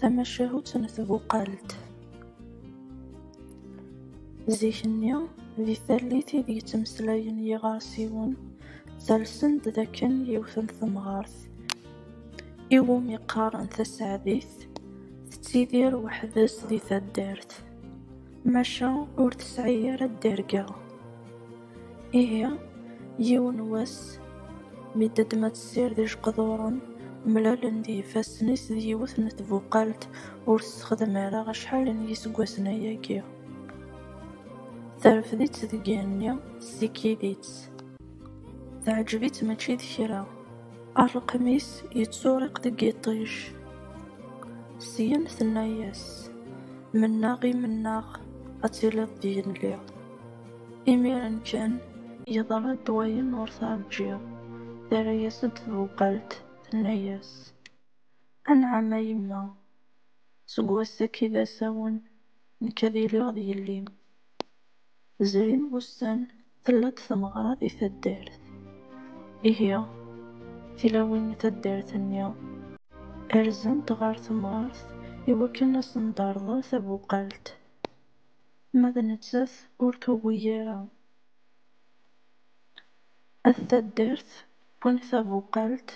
Tamacahut n tbuqalt. Zik-nni, di tallit i d-yettmeslayen yiɣersiwen, ttalsen-d d akken yiwet n temɣart, i wumi qqaren taseɛdit, tettidir weḥd-s di taddart, maca ur tesɛi ara dderga. Ihi, yiwen n wass, mi d-teddem ad tessired ijeqduren, mlalen-d yifassen-is d yiwet n tbuqalt ur tessexdam ara acḥal n yiseggasen ayagi. Terfed-itt deg yigenni, tessikid-itt. Teɛǧeb-itt mačči d kra. Ṛṛqem-is yettuṛiq deg yiṭij. Syen tenna-yas, Mennaɣ i mennaɣ ad tiliḍ d yelli. Imiren kan, yeḍra-d wayen ur terǧiḍ, terra-yas-d tbuqalt, tenna-yas, Anɛam a yemma, seg wass-agi d asawen nekk ad iliɣ d yelli-m. Zrin wussan tella-d tmeɣra di taddart. Ihi, tilawin n taddart-nni rzant ɣer temɣart iwakken ad asen-d-terḍel tabuqalt. Ma d nettat ur tugi ara at taddart wwin tabuqalt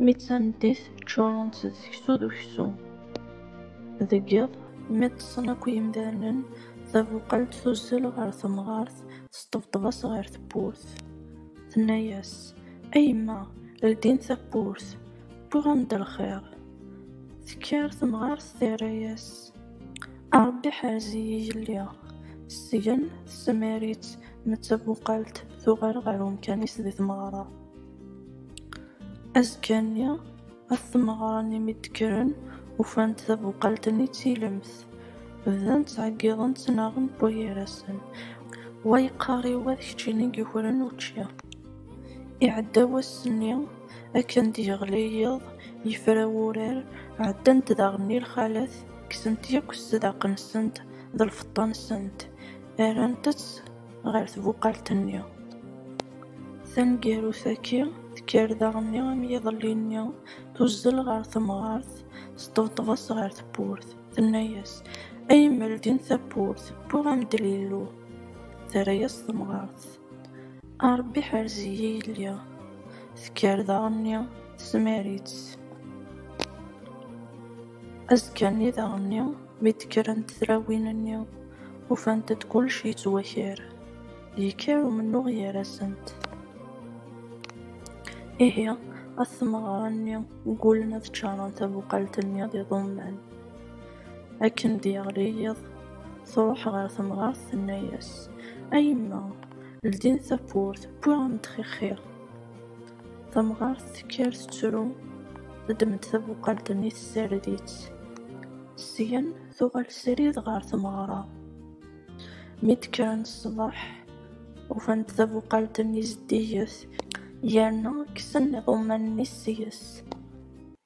mi d tameddit ččurent d seksu d uksum. Deg yiḍ mi ṭṭsen akk yimdanen tabuqalt tuzzel ɣer temɣart teṭṭebṭeb-as ɣer tewwurt tenna-yas, A yemma ldi-n tawwurt wwiɣ-am-d lxiṛ. Tekker temɣart terra-yas. A Ṛebbi ḥerz-iyi yelli. Sgen tesmar-itt n tabuqalt tuɣal ɣer umkan-is di tmeɣra. Azekka-nni, at tmeɣra-nni mi d-kkren, ufan-d tabuqalt-nni d tilemt. Bdan ttɛeggiḍen ttnaɣen wa gar-asen, wa yeqqar i wa d keččini i yukren učči. Iɛedda wass-nni. Akken d-yeɣli yiḍ, yefra wurar, ɛeddant daɣen i lxalat, kksen-t yakk sdaq-nsent d lfeṭṭa-nsent, rrant-t ɣer tbuqalt-nni. Taneggarut-agi, tekker daɣen am yiḍelli-nni, tuzzel ɣer temɣart, teṭṭebṭeb-as ɣer tewwurt, tenna-as, A yemma ldin tawwurt, wwiɣ-am-d Lillu. Terra-as temɣart. A Ṛebbi ḥerz-iyi yelli. Tekker daɣenni tesmar-itt. Azekka-nni daɣenni mi d-kkrent tlawin-nni, ufant-d kullec yettwaker. Yekker umennuɣ gar-asent. Ihi, at tmeɣra-nni ggullen ad ččaṛen tabuqalt-nni d iḍumman. Akken d-yeɣli yiḍ, truḥ ɣer temɣart tenna-yas, A yemma, ldin tawwurt, wwiɣ-am-d xixiṛ. Tamɣart tekker tettru, teddem-d tabuqalt-nni tessared-itt. Syen tuɣal srid ɣer tmeɣra. Mi d-kkren ṣṣbeḥ, ufan-d tabuqalt-nni zeddiget yerna kksen iḍumman-nni seg-s.